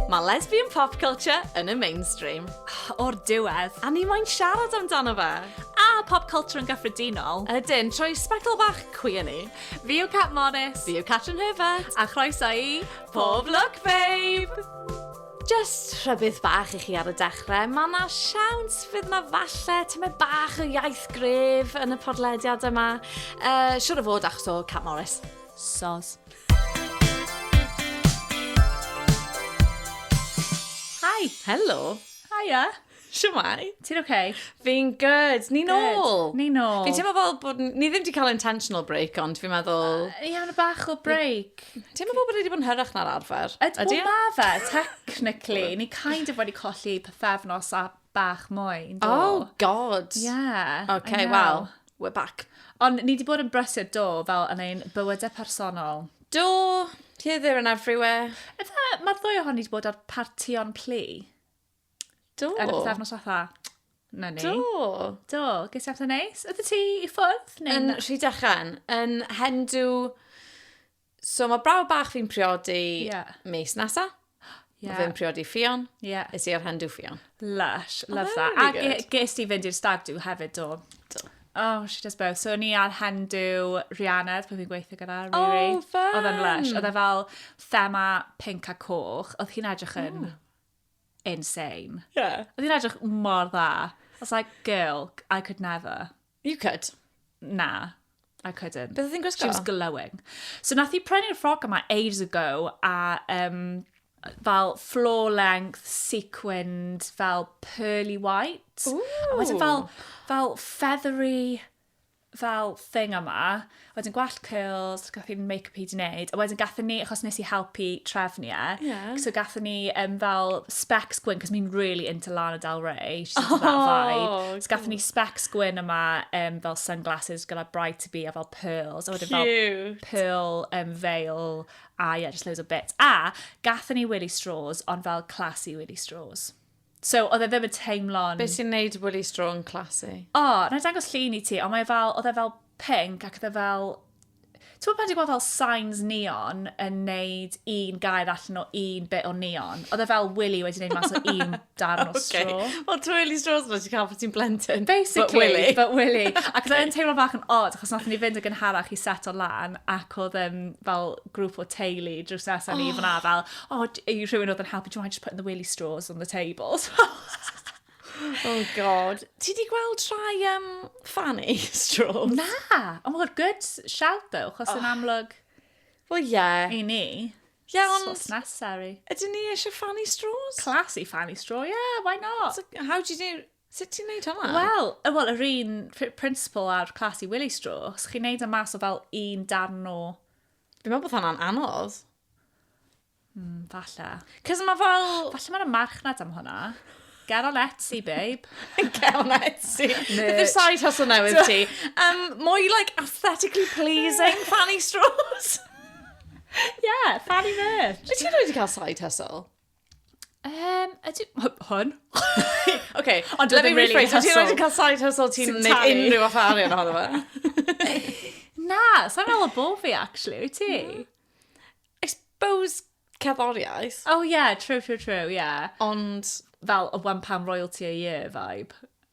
Mae lesbian pop culture yn y mainstream. O'r diwedd, a ni moyn siarad amdano fe. A pop culture yn gyffredinol. Ydyn, trwy sbectol bach cwi yn ni. Fi yw Cat Morris. Fi yw Catrin Herbert. A chroeso i Pob Lwc Babe! Jyst rhybudd bach i chi ar y dechrau, mae yna siawns fydd yna falle tymed bach o iaith gref yn y podlediad yma. Uh, siwr o fod achos o Cat Morris. Sos. Hi, helo. Hiya. Siwmai. Ti'n oce? Okay? Fi'n good. Ni nôl. Ni nôl. Fi'n teimlo fel bod... Ni ddim wedi cael intentional break, ond fi'n meddwl... Uh, Ie, ond bach o break. Ti'n meddwl bod wedi bod yn hyrach na'r arfer? Ydy, Ydy? ma fe, technically. ni kind of wedi colli pethefnos a bach mwy. Do. Oh, god. Yeah. Okay, well, we're back. Ond ni wedi bod yn brysur do, fel yn ein bywydau personol. Do, ti ddim yn everywhere. Efe, mae'r ddwy ohoni wedi bod ar partion plu. Do. Yn y pethefnos fatha. Na ni. Do. Do. Ges i amser neis. Ydy ti i ffwrdd? Yn rhy dechan. Yn hendw... So mae brawd bach fi'n priodi yeah. mis nesa. Yeah. Fi'n priodi ffion. Yeah. Is i ar hendw ffion. Lush. Oh, Love that. A really ge- ges ti fynd i'r stag do hefyd do. Do. Oh, she does both. So, ni ar hendw Rihanna, pan fi'n gweithio gyda oh, Riri. Oh, fun! Oedd e'n lush. Oedd e fel thema pink a coch. Oedd hi'n edrych yn... Mm insane. Yeah. Oedd hi'n edrych mor dda. I was like, girl, I could never. You could. Na, I couldn't. Beth oedd hi'n gwisgo? She was glowing. So nath hi prynu'r ffroc yma ages ago, a um, fel floor length, sequined, fel pearly white. Ooh. A wedyn fel, fel feathery fel thing yma, wedyn gwallt curls, gath i'n make-up i di wneud, a wedyn gath ni, achos nes i helpu trefnu e, yeah. so gath ni um, fel specs gwyn, cos mi'n really into Lana Del Rey, she's into oh, that vibe, so gath ni specs gwyn yma, um, fel sunglasses gyda bright to be, a fel pearls, a wedyn fel pearl um, veil, a yeah, just loads of bits. A gath ni Willy Straws, ond fel classy Willy Straws. So, oedd e ddim yn teimlo'n... Be sy'n neud Willy Straw yn classy? O, na i dangos llun i ti, ond mae fel, oedd e fel pink ac oedd e fel... Ti'n gwybod pan ti'n gweld fel signs neon yn neud un gair allan o un bit o neon? Oedd e fel Willy wedi neud mas o un darn o straw. Okay. Wel, ti'n Willy Straws yma, ti'n cael bod ti'n blentyn. Basically, but Willy. But Willy. Ac oedd e'n teimlo bach yn odd, achos nath ni fynd yn gynharach i set o lan, ac oedd um, fel grŵp o teulu drws nesaf ni oh. fyna fel, oh, i rhywun oedd yn helpu, do you mind just putting the willy straws on the tables? oh god. Ti di gweld rhai um, fanny straws? Na! Oh my god, good shout though, chos oh. yn amlwg... Well, yeah. I ni. Yeah, ond... Sos necessary. Ydyn ni eisiau fanny straws? Classy fanny straw, yeah, why not? So, how do you do... Sut ti'n neud hwnna? Wel, y- wel, yr un pr- principle a'r classy willy straw, os chi'n neud o mas o fel un darn o... Fi'n meddwl bod hwnna'n anodd. Mm, falle. Cos mae fel... Falle mae'n y marchnad am hwnna. Get on Etsy, babe. Get on Etsy. Beth yw'r side hustle newydd ti? Um, mwy, like, aesthetically pleasing fanny straws. Yeah, fanny merch. Wyt ti wedi cael side hustle? Yym, ydy... Hwn? OK, Ond let me rephrase. Wyt ti'n rhaid cael side hustle ti'n gwneud unrhyw fath arian ohono fe? Na, sa'n meddwl bo fi, actually, wyt ti? I suppose cerddoriaeth. Oh, yeah, true, true, true, yeah. Ond... Fel, o wan pam royalty a year vibe.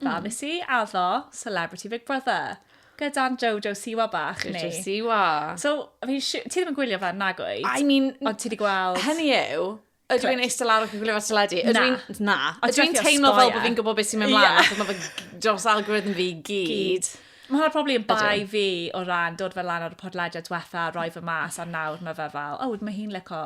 Mm. Fel nes i addo Celebrity Big Brother gyda'n Jojo Siwa bach ni. Jojo Siwa. So, fi, ti ddim yn gwylio fe, nag oed? I mean... Ond ti wedi gweld... Hynny yw, ydw i'n eistedd lawr ac yn gwylio fe teledu? Na. Na. Ydw i'n teimlo fel bod fi'n gwybod beth sy'n mynd mlaen, yeah. achos mae fy dros algorithm fi gyd. gyd. Mae hwnna probably yn bai fi o ran dod fel lan ar y podlediad diwetha, roi fy mas, a nawr mae fe fel, oh, mae hi'n lico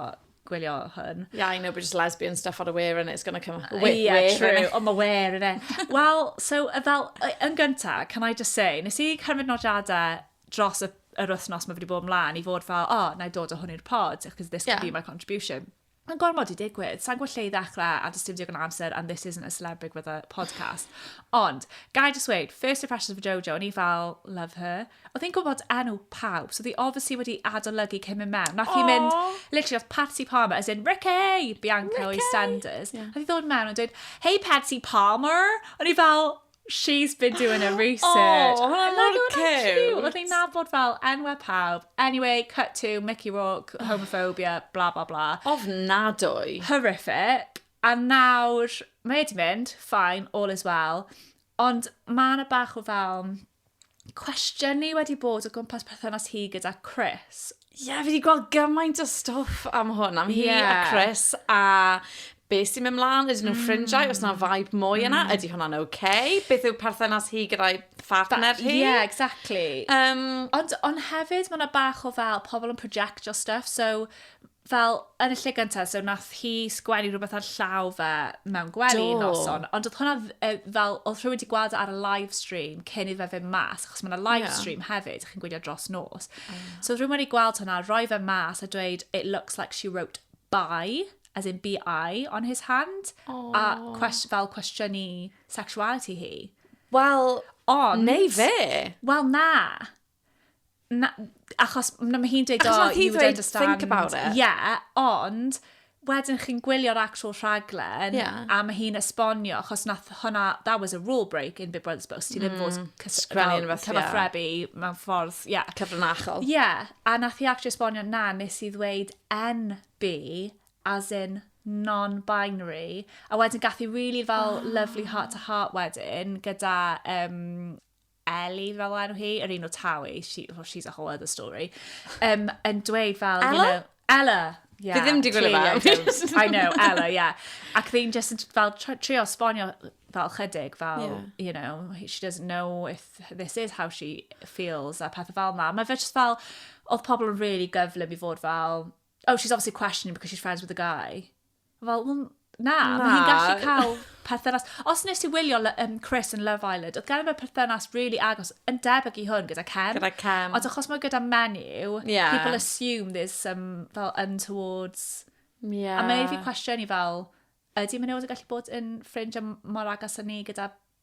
gwylio hwn. Yeah, I know, but just lesbian stuff on a wear and it's going to come up. Wait, yeah, wait, true. On my wear, innit? Wel, so, fel, yn gyntaf, can I just say, nes i cymryd nodiadau dros y, yr wythnos mae wedi bod ymlaen i fod fel, oh, na i dod o hwn i'r pod, because this yeah. could be my contribution. Mae'n gormod i digwydd. Sa'n gwybod lle i ddechrau a dysdim digon amser and this isn't a celebrity with a podcast. Ond, gai just wait, first impressions of Jojo, o'n i fel, love her. oedd hi'n gwybod enw pawb, so oedd hi obviously wedi adolygu cyn mynd mewn. Nath hi mynd, literally, oedd Patsy Palmer, as in Ricky, Bianca Ricky. o'i senders. Yeah. Nath hi ddod mewn yn dweud, hey Patsy Palmer! O'n i fel, she's been doing her research. Oh, hwnna'n mor cute. Oedd hi'n nabod fel enwau pawb. Anyway, cut to Mickey Rourke, homophobia, bla bla bla. Ofnadwy. Horrific. A nawr, mae wedi mynd, fine, all is well. Ond mae yna bach o fel cwestiynu wedi bod o gwmpas perthynas hi gyda Chris. Ie, yeah, fi wedi gweld gymaint o stwff am hwn, am yeah. hi a Chris, a be sy'n mynd mlaen, ydyn nhw'n mm. ffrindiau, os yna vibe mwy yna, mm. ydy hwnna'n oce? Okay? Beth yw perthynas hi gyda'i partner hi? Ie, yeah, exactly. Um, ond, ond hefyd, mae yna bach o fel pobl yn projectio stuff, so Fel, yn y lle gyntaf, so nath hi sgwennu rhywbeth ar llaw fe mewn gwely Do. noson, ond oedd hwnna dd- yy, fel, oedd rhywun wedi gweld e ar y live stream cyn iddo fe fynd mas, achos mae yna live Ie. stream hefyd, chi'n gwylio dros nos. So oedd rhywun wedi gweld hwnna, roi fe mas a dweud, it looks like she wrote by, as in BI, on his hand, a Aw. cwest, fel cwestiynu sexuality hi. Wel, Ond... neu fe. Wel, na. Na, achos na, mae hi'n dweud, Achos oh, wnaeth hi you would ddweud, understand. "Think about it." Ie, ond wedyn chi'n gwylio'r actual rhaglen, Ie. a mae hi'n esbonio, achos nath hwnna, that was a rule break in Big Brother's Boast, ti ddim fod cys- Sgwennu fel rhywbeth, ie. cyfathrebu mewn ffordd, ie. Cyfrinachol. Ie, a nath hi actually esbonio, na, nes i ddweud NB, as in non-binary, a wedyn gath i really fel lovely heart-to-heart wedyn, gyda um, Ellie fel enw hi, yr un o Tawi, she, well, she's a whole other story, um, yn dweud fel, Ella? you know, Ella! Yeah, Fi ddim di gwylio fe. I know, Ella, yeah. Ac fi'n just fel trio sbonio fel chydig, fel, yeah. you know, she doesn't know if this is how she feels a pethau fel yma. Mae fe just fel, oedd pobl yn really gyflym i fod fel, oh, she's obviously questioning because she's friends with a guy. Fel, well, na, na. mae hi'n gallu cael perthynas. Os nes i wylio um, Chris yn Love Island, oedd gen i fe perthynas really agos yn debyg i hwn gyda Cem. Gyda Cem. Ond achos mae gyda menyw, yeah. people assume there's some fel untowards... Yeah. A mae'n ei fi cwestiwn i fel, ydy menywod yn gallu bod yn ffrind mor agos â ni gyda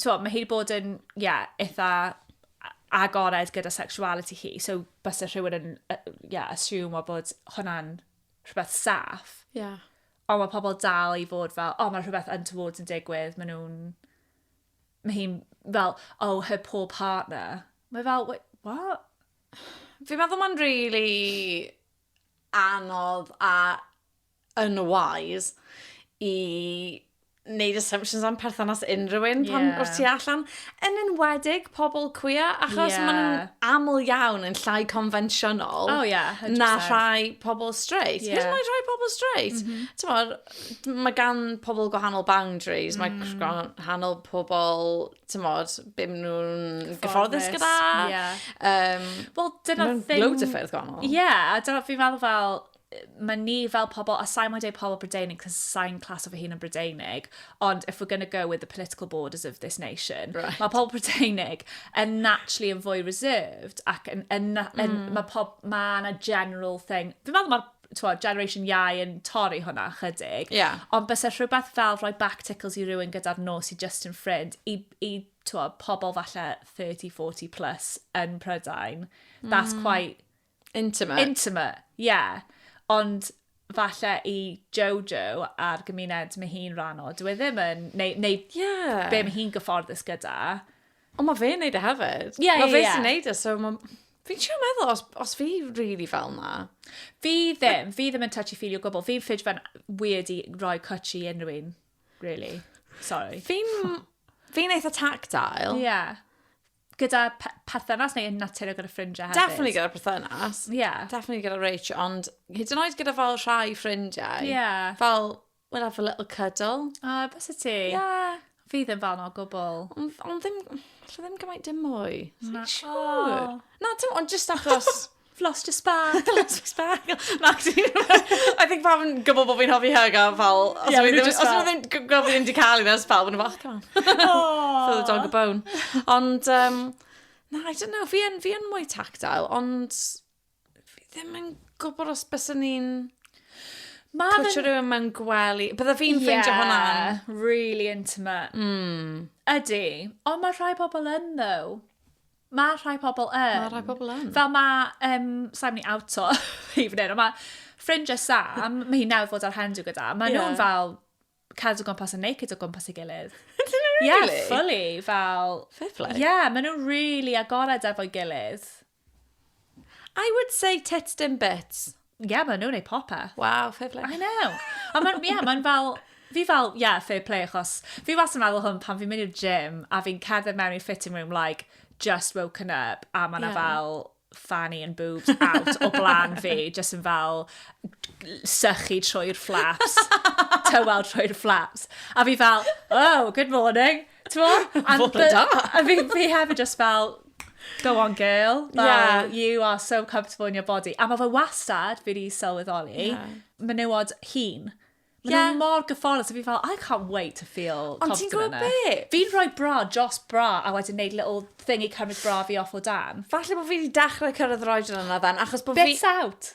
Twa, mae hi wedi bod yn, ie, yeah, eitha agored gyda sexuality hi, so bys y rhywun yn, ie, uh, yeah, assume o bod hwnna'n rhywbeth saff. Ie. Yeah. Ond mae pobl dal i fod fel, o, oh, mae rhywbeth yn tywod yn digwydd, maen nhw'n... Mae hi'n fel, oh, her poor partner. Mae fel, wait, what? Fi'n meddwl mae'n really anodd a unwise i wneud assumptions am perthynas unrhyw un pan yeah. wrth ti allan. Yn enwedig pobl cwia, achos yeah. maen aml iawn yn llai confensiynol oh, yeah, na rhai pobl straight. Yeah. Hyd yn rhai pobl straight. Mm -hmm. Tymod, mae gan pobl gwahanol boundaries, mm. mae gwahanol pobl, tymod, bym nhw'n gyfforddus gyda. Yeah. Um, well, dyna thing... Loads o ffyrdd gwahanol. Ie, yeah, a dyna fi'n meddwl fel, mae ni fel pobl, a sa'n mwyn dweud pobl Brydeinig, cos sa'n clas o fy hun yn Brydeinig, ond if we're going to go with the political borders of this nation, right. mae pobl Brydeinig yn naturally yn fwy reserved, ac yn, yn, yn, mm. mae pob, mae yna general thing, fi'n meddwl mae'r twa, Generation Iau yn torri hwnna chydig. Yeah. Ond bys e rhywbeth fel rhoi back tickles i rywun gyda'r nos i Justin Friend, i, i twa, pobl falle 30-40 plus yn Prydain. That's mm. quite Intimate. Intimate, ie. Yeah. Ond falle i Jojo a'r gymuned mae hi'n rhan o, dwi e ddim yn, neu, neu yeah. be mae hi'n gyfforddus gyda. Ond mae fe'n neud e hefyd. Ie, ie, ie. Mae fe sy'n neud e, so mae... Fi'n siarad meddwl, os, os fi really fel na. Fi ddim, fi ddim yn touchy feely o gwbl. Fi'n ffyd fe'n weird i roi cwtch i unrhyw un, really. Sorry. Fi'n... Fi'n eitha tactile. Ie. Yeah. gyda perthynas neu yn natur gyda ffrindiau hefyd? Definitely gyda perthynas. Ie. Yeah. Definitely gyda Rach, ond hyd yn oed gyda fel rhai ffrindiau. Ie. Yeah. Fel, we'll have a little cuddle. O, uh, bys y ti? Ie. Yeah. Fi ddim fel no gwbl. Ond on ddim, lle ddim gymaint dim mwy. Na. Sure. Na, dim, ond just achos... I've lost a spark, I've lost a spark. Max, I think pam yn gwybod bod fi'n hofi hug a fel, os yeah, ddim, os ddim gwybod fi'n di cael ei nes pawb yn y fach, come on. Feel the dog a bone. Ond, um, na, I don't know, fi yn, fi yn mwy tactile, ond fi ddim yn gwybod os bys ni'n Mae'n... Pwtio rhywun mewn gwely. Bydda fi'n yeah, ffeindio hwnna'n... really intimate. Mm. Ydy. Ond mae rhai pobl yn, ddo. Mae rhai pobl yn. Mae rhai pobl yn. Fel mae, um, sa'n mynd i awto, evening, ond mae ffrindiau Sam, mae hi newydd fod ar hendu gyda, mae yeah. nhw'n fel cadw gwmpas yn naked o gwmpas ei gilydd. really? Yeah, fully, fel... Fair play. Yeah, mae nhw'n really agored efo'i gilydd. I would say tits dim bits. Ie, yeah, maen nhw'n ei popeth. Waw, fair play. I know. Ond mae'n, ie, yeah, mae'n fel, fi fel, ie, yeah, fair play, achos fi was yn meddwl hwn pan fi'n mynd i'r gym a fi'n cerdded mewn i'r fitting room, like, just woken up, a mae'n yeah. fel fanny and boobs out o blaen fi, just yn fel sychu trwy'r flaps, tywel trwy'r flaps. A fi fel, oh, good morning, Twa, and the, I mean, fi hefyd just fel, go on girl, fel, yeah. you are so comfortable in your body. A mae fe wastad, fi wedi sylweddoli, yeah. menywod hun. Mae yeah. nhw mor gyfforddus, a fi fel, I can't wait to feel Ond ti'n gwybod be? Fi'n rhoi bra, jos bra, a wedyn neud little thing i cymryd bra fi off o dan. Falle bod fi wedi dechrau cyrraedd roed yna fan, achos bod fi... Bits out!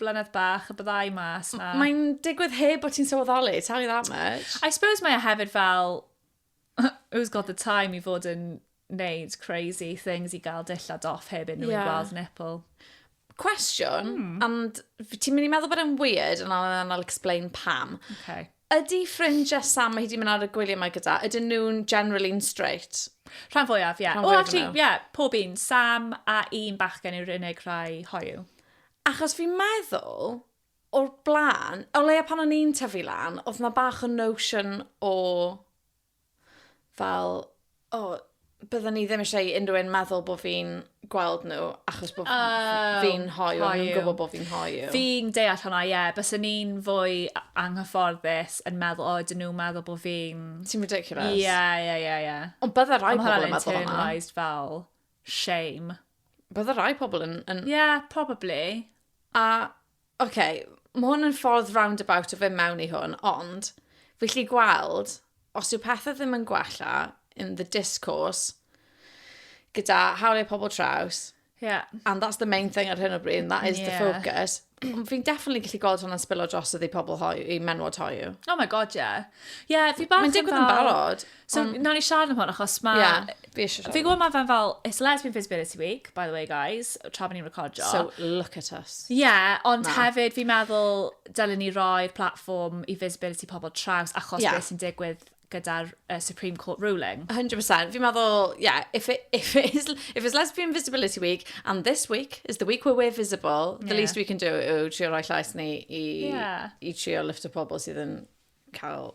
blynedd bach y byddai mas na... Mae'n digwydd heb bod ti'n sylweddoli, tell you that much. I suppose mae e hefyd fel, who's got the time i fod yn neud crazy things i gael dillad off heb unrhyw yeah. gweld nipple. Cwestiwn, mm. and ti'n mynd i meddwl bod e'n weird, and I'll, and I'll explain pam. Okay. Ydy ffrindiau Sam mae hi 'di mynd ar y gwyliau mae gyda, ydyn nhw'n generally'n straight? Rhan fwyaf, ie. Rhan fwyaf o nhw. Ie, pob un. Sam a un bachgen yw'r unig rhai hoyw. Achos fi'n meddwl, o'r blaen, o leia pan o'n i'n tyfu lan, oedd 'na bach o notion o fel, o, bydden ni ddim eisiau i unrhyw un meddwl bod fi'n gweld nhw, achos bod oh, fi'n hoiw, a nhw'n gwybod bod fi'n hoiw. Fi'n deall hwnna, ie. Yeah. Bys ni'n fwy anghyfforddus yn meddwl, o, dyn nhw'n meddwl bod fi'n... Ti'n ridiculous. Ie, ie, ie, ie. Ond bydde rhai pobl yn meddwl hwnna. Ond fel shame. Bydde rhai pobl yn... yn... Yeah, probably. A Ok, mae hwn yn ffordd roundabout o fynd mewn i hwn, ond fi lli gweld, os yw pethau ddim yn gwella in the discourse, gyda hawliau pobl traws, yeah. and that's the main thing ar hyn o bryd, and that is yeah. the focus, fi'n definitely gallu gweld hwnna'n spillo dros ydi pobl hoi, i menwod hoi. Oh my god, yeah. Yeah, fi bach yn fel... Mae'n digwydd yn barod. So, um, nawn ni siarad am hwn, achos mae... Yeah, fi eisiau siarad. Fi'n gwybod mae fe'n fel, it's Lesbian Visibility Week, by the way, guys, tra bod ni'n recordio. So, look at us. Yeah, ond Na. hefyd fi'n meddwl dylen ni roi'r platform i visibility pobl traws achos yeah. beth sy'n digwydd gyda'r uh, Supreme Court ruling. 100%. Fi'n meddwl, yeah, if, it, if, it is, if it's Lesbian Visibility Week, and this week is the week where we're visible, yeah. the least we can do yw trio rhoi llais ni i, yeah. i trio lift o pobl sydd yn cael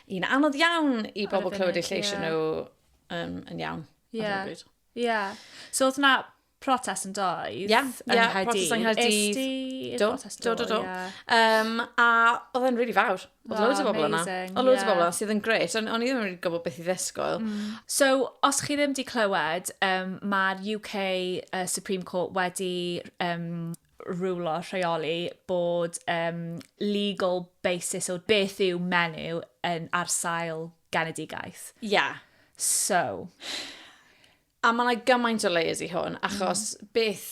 un anodd iawn i bobl clywed eu lleis yeah. nhw um, yn iawn. Ie. Yeah. Yeah. So oedd na protest yn doedd? Ie, yeah, protest yng Nghaerdydd. Do, do, do, do. Um, a oedd e'n rili really fawr. Oedd loads o bobl yna. Oedd loads o bobl yna sydd yn gret. O'n i ddim yn gwybod beth i ddesgoel. Mm. So, os chi ddim wedi clywed, um, mae'r UK uh, Supreme Court wedi um, rwlo, rheoli, bod um, legal basis o beth yw menyw yn ar sail genedigaeth. Ie. Yeah. So. A mae yna gymaint o layers i hwn, achos mm. beth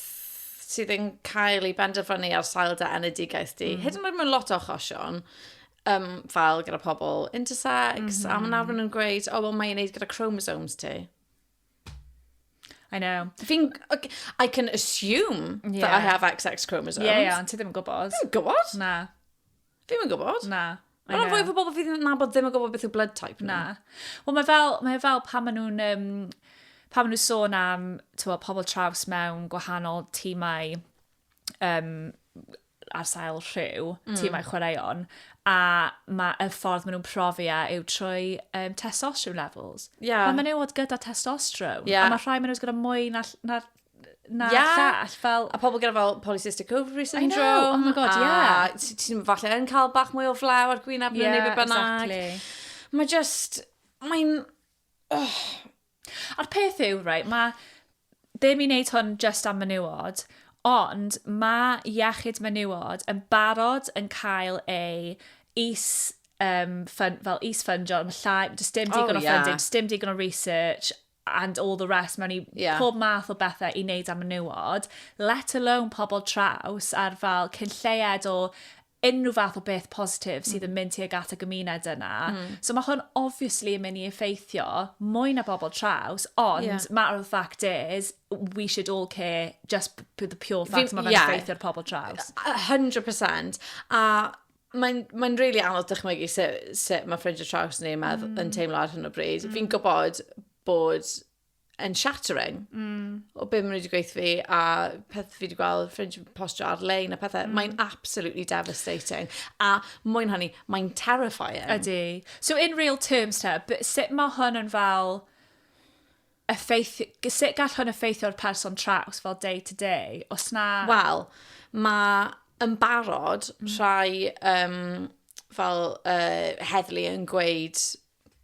sydd yn cael ei benderfynu ar sail da enedigaeth di. Mm. Hyd yn oed mewn lot o achosion, um, fel gyda pobl intersex, mm -hmm. a mae nawr mm-hmm. nhw'n gweud, o, oh, wel, mae'n ei wneud gyda chromosomes ti. I know. Fi'n... I can assume yeah. that I have XX chromosomes. Ie, yeah, yeah, ond ti ddim yn gwybod. Fi'n gwybod. Na. Fi'n yn gwybod. Na. Mae'n rhan fwy o bobl fydd yn nabod ddim yn gwybod beth yw blood type. Na. Wel, mae fel, mae fel pan maen nhw'n... Um, pan maen nhw'n sôn am tywa, pobl traws mewn gwahanol tîmau um, ar sail rhyw, mm. tîmau chwaraeon, a mae y ffordd maen nhw'n profi a e yw trwy um, testosterone levels. Yeah. Mae menywod gyda testosterone, yeah. a mae rhai menywod gyda mwy na, na na yeah. llall. Fel... A pobl gyda fel polycystic ovary syndrome. I know, oh my god, a yeah. Ti'n falle yn cael bach mwy o flaw ar gwynaf yeah, neu beth bynnag. Exactly. Mae just, mae'n... Oh, A'r peth yw, right, mae ddim i wneud hwn just am menywod, ond mae iechyd menywod yn barod yn cael ei is um, fun, fel is ffundio, yn llai, does dim oh, digon oh, o yeah. funding, does dim digon o research, and all the rest mewn i yeah. pob math o bethau i wneud am menywod, let alone pobl traws ar fel cyn lleiad o unrhyw fath o beth positif sydd yn mm. mynd tuag at y gymuned yna. Mm. So mae hwn obviously yn mynd i effeithio mwy na bobl traws, ond yeah. matter of fact is, we should all care just for the pure fact mae fe'n yeah. effeithio'r pobl traws. 100%. A mae'n mae rili really anodd dychmygu sut, sut mae ffrindiau traws ni'n meddwl mm. yn teimlo ar hyn o bryd. Mm. Fi'n gwybod bod yn shattering mm. o beth maen nhw wedi gweithio fi a peth fi wedi gweld ffrind yn postio ar-lein a pethau. Mm. Mae'n absolutely devastating. A mwyn hynny, mae'n terrifying. Ydy. So in real terms te, sut mae hwn yn fel effeith, sut gall hwn effeithio'r person traws fel day to day? Os na... Wel, mae yn barod mm. rhai um, fel uh, heddlu yn gweud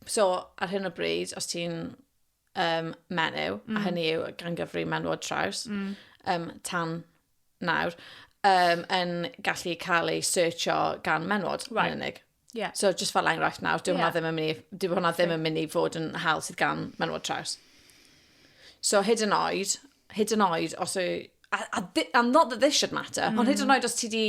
So, ar hyn o bryd, os ti'n um, menyw, mm. a hynny yw gan gyfri menwod traws, mm. um, tan nawr, um, yn gallu cael ei searcho gan menwod right. yn unig. Yeah. So, just fel enghraifft nawr, dyw yeah. hwnna ddim yn mynd i, dyw hwnna ddim yn mynd i fod yn hal sydd gan menwod traws. So, hyd yn oed, hyd yn oed os yw... A, a, a not that this should matter, mm. ond hyd yn mm. oed os ti di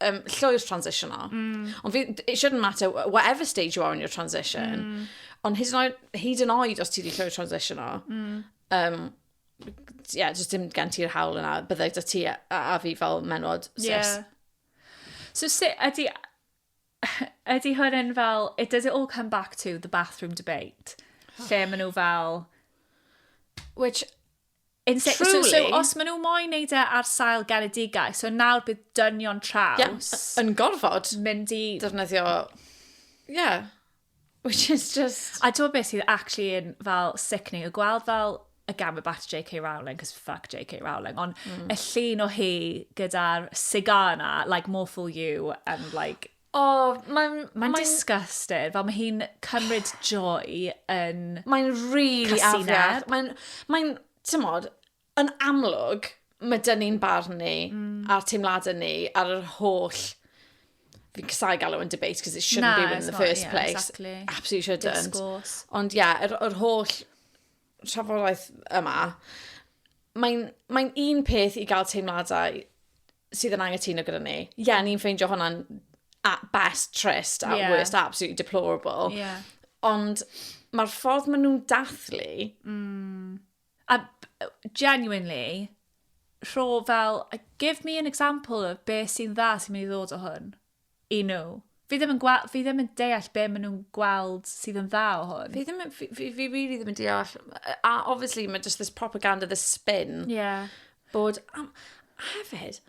um, llwyr transitional, mm. ond it shouldn't matter whatever stage you are in your transition, mm. ond hyd yn oed, hyd yn oed os ti di llwyr transitional, mm. um, yeah, just dim gen ti'r hawl yna, byddai da ti a, a fi fel menwod, sis. Yeah. So sut ydy, Ydy hwn yn fel, it does it all come back to the bathroom debate? Lle maen nhw fel... Which, in se- so, so Truly. os maen nhw moyn neud e ar sail genedigaeth, so nawr bydd dynion traws Yn gorfod mynd i... defnyddio... Ie. Which is just... A ti'n beth sydd actually yn fel sickening, y gweld fel y gamu bat JK Rowling, cos fuck JK Rowling, ond mm. y llun o hi gyda'r cigar yna, like, more for you, and like... O, oh, mae'n... Mae'n mae disgusted, fel mae hi'n cymryd joy yn... Mae'n really afiach. Mae'n... Mae'n... Tymod, Yn amlwg, mae dyn ni'n barn ni mm. a'r teimladau ni ar yr holl fi'n casau galw yn debate because it shouldn't no, be in the not, first yeah, place. Exactly. Absolutely shouldn't. Discourse. Ond ie, yeah, yr, yr holl trafodaeth yma, mae'n mae un peth i gael teimladau sydd yn angytuno gyda ni. Ie, yeah, ni'n ffeindio hwnna'n at best trist, at yeah. worst absolutely deplorable. Yeah. Ond mae'r ffordd maen nhw'n dathlu mm. A genuinely, rho fel, give me an example of be sy'n dda sy'n mynd i ddod o hwn i nhw. Fi ddim yn, gweld, fi ddim yn deall be maen nhw'n gweld sydd yn dda o hwn. Fi ddim, fi, fi, fi really ddim yn deall. A obviously, mae just this propaganda, this spin. Yeah. Bod, um, hefyd,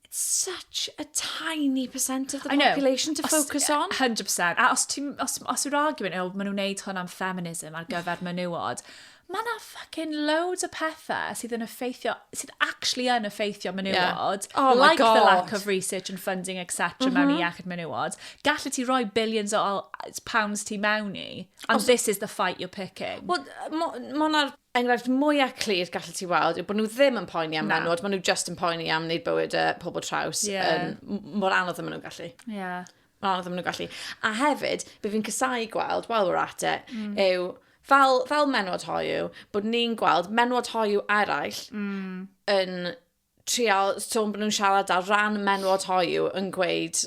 It's such a tiny percent of the population to focus on. 100%. A os, os, os yw'r argument, oh, maen nhw'n neud hwn am feminism ar gyfer menywod, mae yna fucking loads o pethau sydd yn effeithio, sydd actually yn effeithio menywod, yeah. oh like God. the lack of research and funding, etc. Mm -hmm. mewn i mhm. iechyd menywod. Gallu ti roi billions o pounds ti mewn i, and Os... this is the fight you're picking. Wel, mae hwnna'r enghraifft mwyaf clir gallet ti weld yw bod nhw ddim yn poeni am menwod, maen nhw just yn poeni am wneud bywyd y pobl traws. Yeah. Um, mor anodd yn maen nhw'n gallu. Yeah. Mor anodd yn maen nhw'n gallu. A hefyd, bydd fi'n cysau gweld, while we're at it, mm. yw fel, fel menwod hoiw, bod ni'n gweld menwod hoiw eraill mm. yn trial, so bod nhw'n siarad ar ran menwod hoiw yn gweud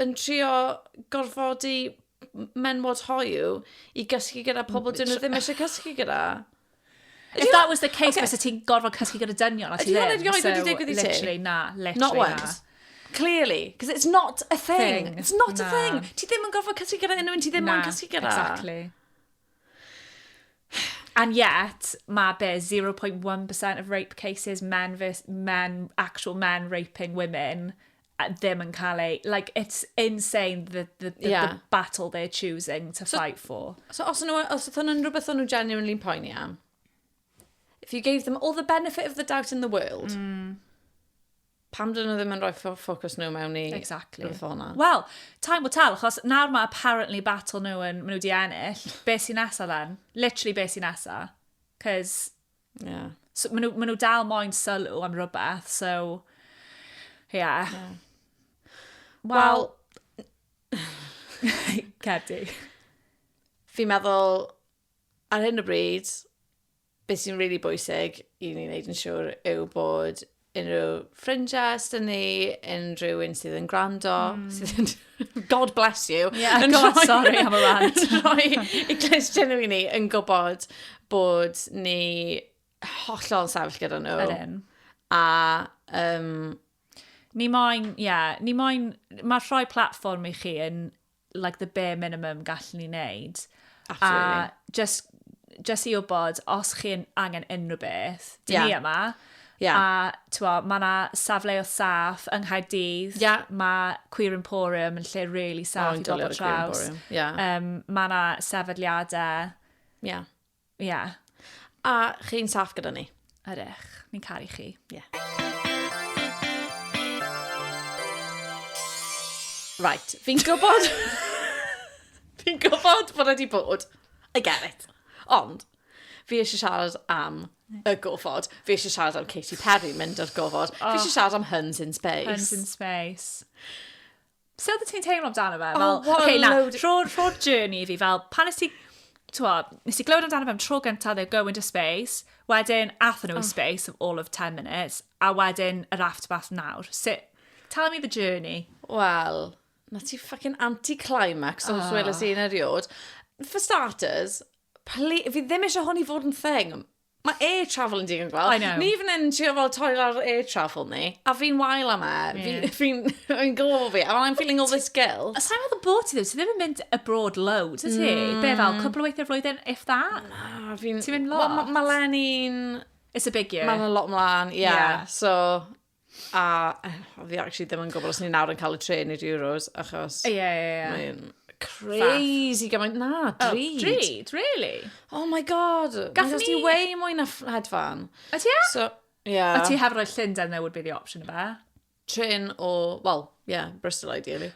yn trio gorfodi menwod hoyw i gysgu gyda pobl dyn nhw ddim eisiau cysgu gyda. If that was the case, okay. ti'n gorfod cysgu gyda dynion a ti ddim. Ydy hwn wedi digwydd i ti? Literally, na. Literally, Not once. Clearly, because it's not a thing. thing. It's not na. a thing. Ti ddim yn gorfod cysgu gyda unrhyw un ti ddim yn cysgu gyda. Exactly. And yet, mae be, 0.1% of rape cases, men, men, actual men raping women, ddim yn cael ei... Like, it's insane the, the, the, yeah. the battle they're choosing to so, fight for. So os nhw, os oedd hwnna'n rhywbeth o'n nhw genuinely'n poeni am, if you gave them all the benefit of the doubt in the world, mm. pam dyn nhw ddim yn rhoi ffocws nhw mewn i exactly. rhywbeth o'na? Wel, time will tell, achos nawr mae apparently battle nhw yn, maen nhw wedi ennill. Be sy'n nesaf then? Literally be sy'n nesaf? Cos Yeah. So, maen nhw, ma nhw dal moyn sylw am rhywbeth, so... Yeah. yeah. Wel... Cedi. Fi'n meddwl, ar hyn o bryd, beth sy'n rili really bwysig i ni wneud yn siŵr yw bod unrhyw ffrindiau os dyn ni, unrhyw un sydd yn gwrando, mm. sydd yn... God bless you. Yeah, yn God, rhoi, sorry, am y rant. Yn rhoi i glist gennym ni yn gwybod bod ni hollol sefyll gyda nhw. Yr un. A um, Ni moyn, ie, yeah, ni moyn, mae rhoi platform i chi yn like the bare minimum gallwn ni wneud. Absolutely. A just, just i wybod, os chi'n angen unrhyw beth, dyn yeah. ni yma. Yeah. A twa, mae yna safleoedd saff yng Nghaerdydd. Yeah. Mae Queer Emporium yn lle really saff oh, i bobl traws. Yeah. Um, mae yna sefydliadau. Yeah. Ie. Yeah. A chi'n saff gyda ni. Ydych. Ni'n caru chi. Ie. Yeah. Right, fi'n gwybod... fi'n gwybod bod wedi bod. I get it. Ond, fi eisiau siarad am y gofod. Fi eisiau siarad am Katy Perry mynd o'r gofod. Oh. Fi eisiau siarad am Huns in Space. Huns in Space. Sut oeddet ti'n teimlo amdano fe? Fel, oh, okay, na, rho'r rho journey i fi, fel, pan nes ti, tywod, nes ti glywed amdano fe am tro gyntaf, they're going to space, wedyn, atho nhw oh. space of all of 10 minutes, a wedyn, yr after bath nawr. Sut, tell me the journey. Wel, na ti fucking anti-climax oh. os weles i'n eriod. For starters, fi ddim eisiau hwn i fod yn thing. Mae air travel yn digon gwell. I know. Ni fan hyn yn trio fel torri lawr air travel ni, a fi'n wael am e. Fi- Fi'n fi'n gwybod fi, and I'm feeling all this guilt. A sa'n meddwl bod ti ddim, ti ddim yn mynd abroad loads, y ti? Be fel, cwpl o weithiau flwyddyn, if that? Na, fi'n... Ti'n mynd lot? Wel, ma- ma' Lenny'n... It's a big year. Mae'n a lot mlaen, ie. Ie. So, A fi actually ddim yn gwybod os ni nawr yn cael y trên i'r Euros, achos... Ie, ie, ie. Mae'n crazy gymaint. Na, oh, drud. Oh, drud, really? Oh my god. Gallwn ni... Mae'n way mwy na hedfan. A ti e? So, yeah. A ti heb roi llyn dan newid be the option yma? Trin o, well, yeah, Bristol ideally.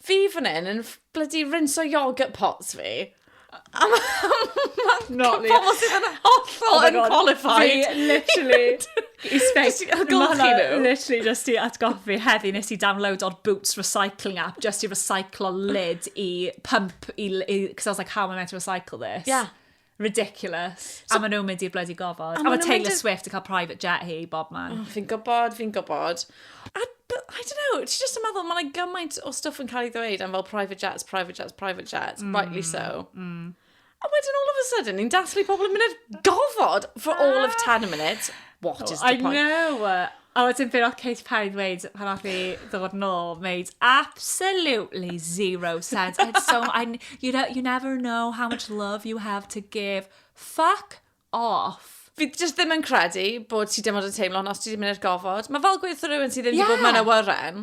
Fi fan hyn yn ff- bloody rinso yoghurt pots fi. A ma- ma- Not me. pobl sydd yn hollol Oh my God, unqualified. Fi, literally, i spec. Jyst i golchi Ma' hwnna nhw. Literally, just i atgoffa fi heddi, nes i downloado'r Boots Recycling app, just i recyclo lid i pump, i, i, cos I was like, how am I meant to recycle this? Yeah. Ridiculous. So, a maen nhw'n mynd i'r bloody gofod. A, a mae Taylor Swift yn cael private jet hi, bob man. Oh, fi'n gwybod, fi'n gwybod. A, but, I don't know, ti just yn meddwl, mae'n gymaint o stuff yn cael ei ddweud am fel private jets, private jets, private jets, mm, rightly so. Mm. A wedyn all of a sudden, ni'n dathlu pobl yn mynd i'r gofod for all of 10 minutes. What oh, is the I point? I know. A wedyn be wnaeth Katy Perry ddweud pan wnaeth hi ddod nôl, made absolutely zero sense. And so, I, you, know, you never know how much love you have to give. Fuck off. Fi just ddim yn credu bod ti dim ond yn teimlo hwn os ti ddim yn i'r gofod. Mae fel gweithio rhywun sydd ddim wedi bod mewn awyren.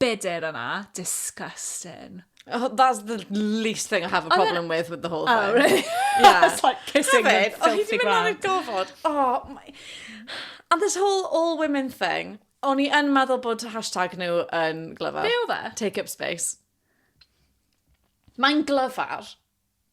bedr yna. Disgusting. Oh, that's the least thing I have a Oedd e'n- problem with with the whole thing. Oh, really? Yeah. It's like kissing the Hefyd, oedd hi filthy wedi mynd ar y ground. gofod. Oh, my... And this whole all women thing, o'n i yn meddwl bod hashtag nhw yn glyfar. Be oedd e? Take up space. Mae'n glyfar.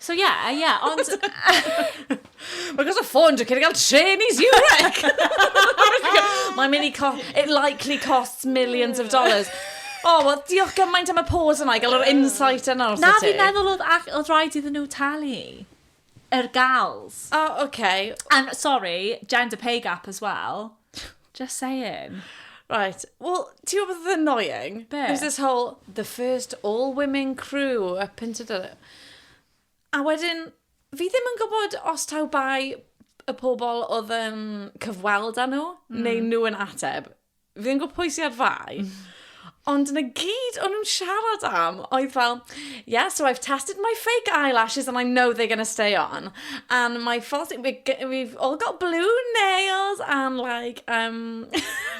So ie, yeah, ie, yeah, ond... Mae gos o ffôn, dwi'n cael trên i Zurich! Mae'n mynd i cost... It likely costs millions of dollars. O, oh, wel, diolch gymaint am y pause yna i gael yr insight yna os Na, fi'n meddwl oedd, oedd rhaid iddyn nhw talu. Yr gals. O, oce. And, sorry, gender pay gap as well. Just saying. Right, wel, ti'n gwybod beth oedd annoying? Be? It was this whole, the first all-women crew up in... A wedyn, fi ddim yn gwybod os taw bai y pobl oedd yn cyfweld â nhw, neu nhw yn ateb. fi ddim yn gwybod pwy sy'n ar fai, ond yna gyd o'n nhw'n siarad am oedd fel, yeah, so I've tested my fake eyelashes and I know they're going to stay on. And my false, we, we've all got blue nails and like, um,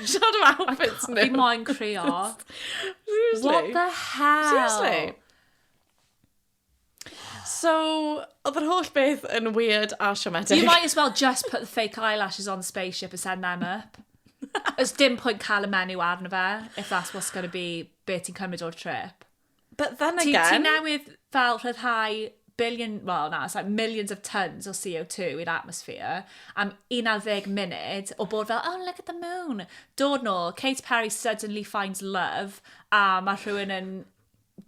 siarad am outfits nhw. Fi moyn creo. Seriously. What the hell? Seriously. So, oedd yr holl beth yn weird a siomedig. You might as well just put the fake eyelashes on the spaceship and send them up. Ys dim pwynt cael y menu arno fe, if that's what's going to be be ti'n cymryd o'r trip. But then again... Ti, ti newydd fel rhyddhau billion, well na, it's like millions of tons o CO2 i'r atmosphere am 11 munud o bod fel, oh look at the moon. Dod nôl, Kate Perry suddenly finds love a mae rhywun yn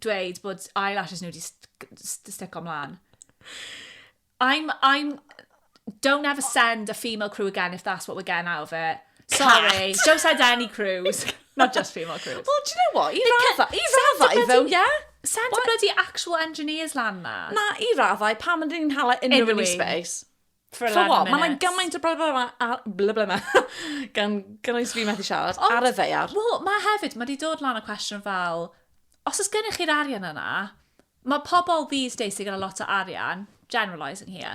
dweud bod eyelashes nhw wedi stico mlaen. I'm, I'm, don't ever send a female crew again if that's what we're getting out of it. Sorry, Cat. don't send any crews. Not just female crews. Well, do you know what? I raddau, i raddau ddo, ie? Send well, bloody actual engineers lan na. Na, i raddau, pam ydyn ni'n hala unrhyw un i space? For a lot of minutes. Mae yna gymaint o broblem yma, a bla bla bla, gan gynnwys fi methu siarad, Ond, ar y ddeiar. Wel, mae hefyd, mae wedi dod lan y cwestiwn fel, os oes gennych chi'r arian yna, mae pobl these days sy'n gyda lot o arian, generalising here,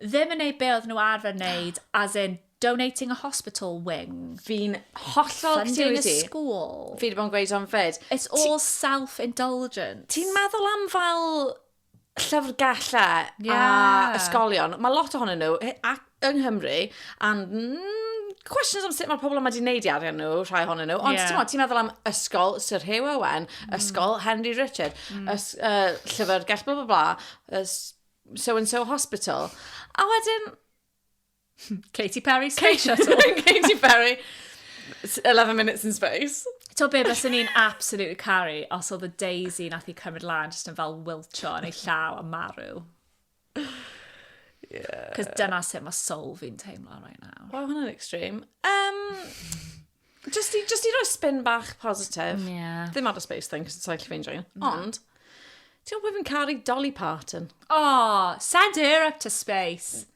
ddim yn neud be oedd nhw arfer wneud, as in donating a hospital wing. Fi'n hollol Funding a school. Fi wedi bod yn gweud o'n fyd. It's all self-indulgence. Ti'n meddwl am fel llyfrgellau yeah. a ysgolion, mae lot ohonyn nhw, a yng Nghymru, and mm, questions am sut mae pobl yma wedi gwneud i arian nhw, rhai ohonyn nhw. Ond yeah. ti'n ti'n meddwl am ysgol Sir Hugh Owen, mm. ysgol Henry Richard, mm. ys, uh, llyfr gell bla bla bla, so and so hospital. A wedyn, Katy Perry Space Shuttle. Katy Perry. 11 minutes in space. To be, bys ni'n absolutely carry os oedd y Daisy nath i cymryd lan jyst yn fel wiltio yn ei llaw a marw. Yeah. Cos dyna sut mae soul fi'n teimlo right now. Wow, hwnna'n extreme. Um, just, i, just i roi spin bach positif. Mm, yeah. Ddim ar y space thing, cos it's like fi'n join. Ond, ti'n gwybod fi'n caru Dolly Parton? Oh, send her up to space.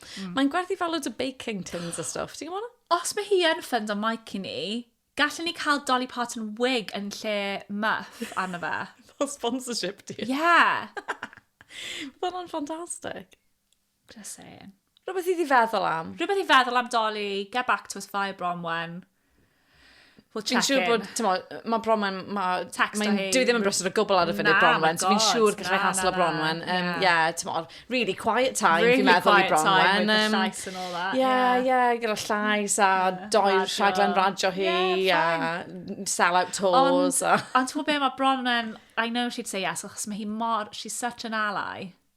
Mm. Mae'n gwerthu fel loads o baking tins a stuff, ti'n gwybod? Os mae hi yn ffynd o Mike i ni, gallwn ni cael Dolly Parton wig yn lle muff arno fe. Fel sponsorship di. Ie. Yeah. Oedd hwnna'n ffantastig. Just saying. Rhywbeth i ddi feddwl am. Rhywbeth i feddwl am Dolly, get back to us via Bronwen. We'll check in. Fi'n siŵr bod, ti'n mo, mae Bronwen, mae... Text o hyn. Dwi ddim yn brysur o gwbl ar y funud Bronwen, so fi'n siŵr gallai haslo Bronwen. Ie, ti'n mo, really quiet time, fi'n meddwl i Bronwen. Really quiet time, with the llais and all that. Ie, ie, gyda llais a doi rhaglen radio hi, a sell-out tours. Ond ti'n mo be, mae Bronwen, I know she'd say yes, achos mae hi mor, she's such an ally.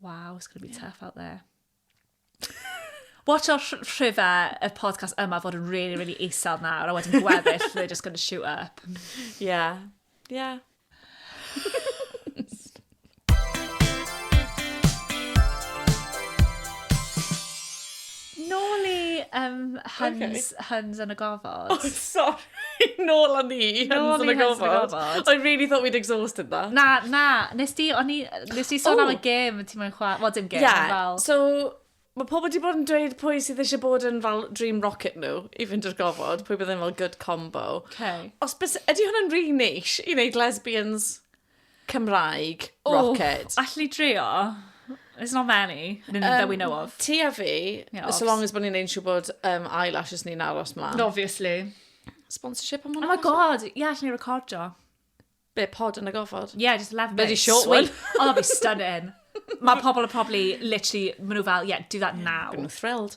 Wow, it's going to be tough out there. Watch our rhifau y podcast yma fod yn really, really isel nawr, a wedyn gweddill, they're just going to shoot up. Yeah, yeah. Nôl i um, Huns, okay. Huns yn y gofod. Oh, sorry. Nôl â ni i Hyns yn y Gofod. I really thought we'd exhausted that. Na, na, nes di, o'n i, nes di sôn am y gêm ti mwyn chwa, wel dim gêm, yeah. fel... so, mae pobl wedi bod yn dweud pwy sydd eisiau bod yn fel dream rocket nhw i fynd i'r gofod, pwy bydd yn fel good combo. Okay. Os bys, ydy hwnna'n rhi really neis i wneud lesbians Cymraeg, Rocket. Oh, allu drio? There's not many um, that we know of. Ti a fi, yeah, so long as bod ni'n ein siw bod um, eyelashes ni'n aros mlaen. Obviously. Sponsorship am hwnna. Oh my god, ie, yeah, allan ni recordio. Be, pod yn y gofod? Ie, yeah, just 11 minutes. Bloody short one. oh, that'd be stunning. Mae pobl yn probably, literally, maen nhw fel, yeah, do that now. Maen nhw thrilled.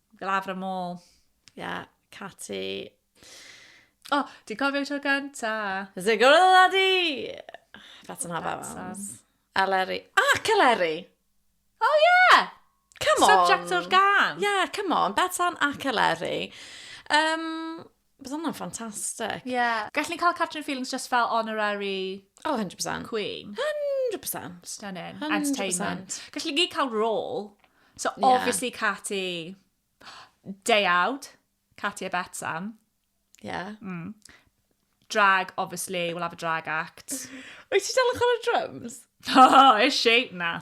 Glafr y môl. Ie, yeah, Cati. O, oh, di cofio tro gynta. Zigor y ladi! That's an have Eleri. Ah, Celeri! Oh, yeah! Come on! Subject o'r gan. Yeah, come on. Betsan a Celeri. Um, Bydd hwnna'n ffantastig. Ie. Yeah. Gallwn ni cael Catrin Feelings just fel honorary... Oh, 100%. ...queen. 100%. Stunning. 100%. Entertainment. Gallwn ni cael rôl. So, yeah. obviously, Cati... Deuawd. Cati a Betsam. Yeah. Mm. Drag, obviously, we'll have a drag act. Wyt ti dal yn chwarae drums? Oh, is she? Na.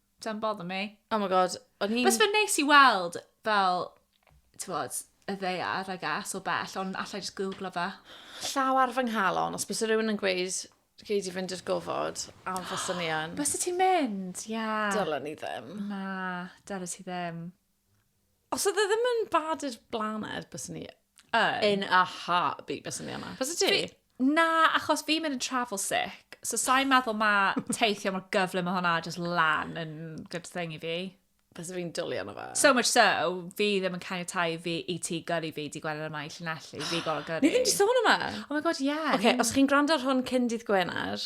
Don't bother me. Oh my god, o'n i'n... Bys fe'n neis i weld, fel, tywod, y ddeiar, I guess, o bell, ond allai just googlo fe. Llaw ar fy nghalon, os bys rhywun yn gweud, gei di fynd i'r gofod, a fy sy'n i yn. Bys ti'n mynd, ie. Yeah. Dylen ni ddim. Na, dylen ti ddim. Os oedd e ddim yn bad i'r blaned, bys ni yn. In a heartbeat, bys ni yma. Bys ti? Na, achos fi'n mynd yn travel sick, so sa'n meddwl mae teithio mor gyflym o hwnna just lan yn good thing i fi. Bys fi'n dwlu yna fe. So much so, fi ddim yn cael tai fi i ti gyrru fi di gwener yma i llunelli, fi gorau gyrru. Ni ddim di sôn yma. Oh my god, ie. Yeah. Oce, okay, os chi'n gwrando ar hwn cyn dydd Gwener,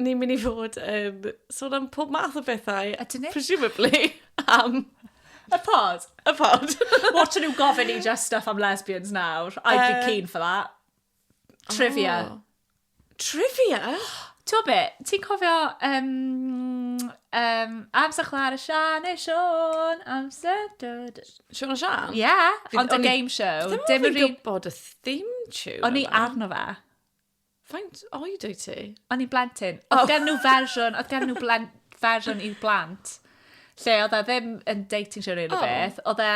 ni'n mynd i fod yn sôn am pob math o bethau. A dyn ni? Presumably am... Y pod. Y pod. Watch nhw gofyn i just stuff am lesbians nawr. I'd be uh, keen for that. Trivia. Oh. Trivia? Ti'n gwybod beth? Ti'n cofio um, um, amser chwar y Sian neu Sian? Amser... Dod... Sian o Sian? Ie, yeah, ond y game show. Ddim yn gwybod y theme tune. O'n i arno fe. Faint oed o'i ti? O'n i'n blentyn. Oedd oh. gen nhw fersiwn, oedd gen nhw blen, fersiwn i'r blant, lle oedd e ddim yn dating show rhywun o beth, oedd e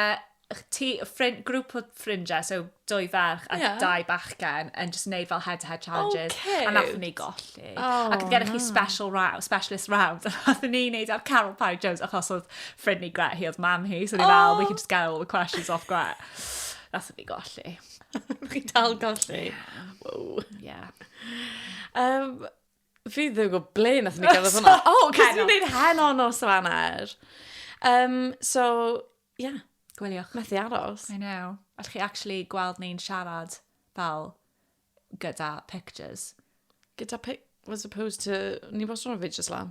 ti, ffrind, grŵp o ffrindiau, so dwy ferch a yeah. dau bachgen, yn just neud fel head-to-head challenges. Okay. A nath ni golli. Oh, Ac oedd gennych chi special round, specialist round. A nath ni neud ar Carol Parry Jones, achos oedd ffrind ni Gret, hi oedd mam hi, so ni oh. fel, we can just get all the questions off Gret. Nath ni golli. Mae chi dal golli. Wow. Ie. Um, fi ddim yn gwybod ble nath ni gael hwnna. O, oh, cos ni'n gwneud hen o'n nos o fanner. Um, so, ie. Yeah. Gwyliwch. Methu aros. I know. Allwch chi actually gweld ni'n siarad fel gyda pictures. Gyda pic... Was opposed to... Ni wastad yn fidges lan.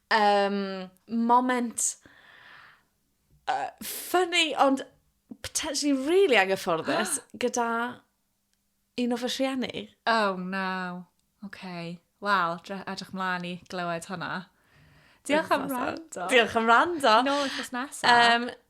Um, moment uh, funny, ond potentially really anghyfforddus gyda un o fy rhieni. Oh, no. Okay. Wel, edrych mlaen i glywed hwnna. Diolch am rando. Diolch am rando. Nôl wythnos nesaf. Um,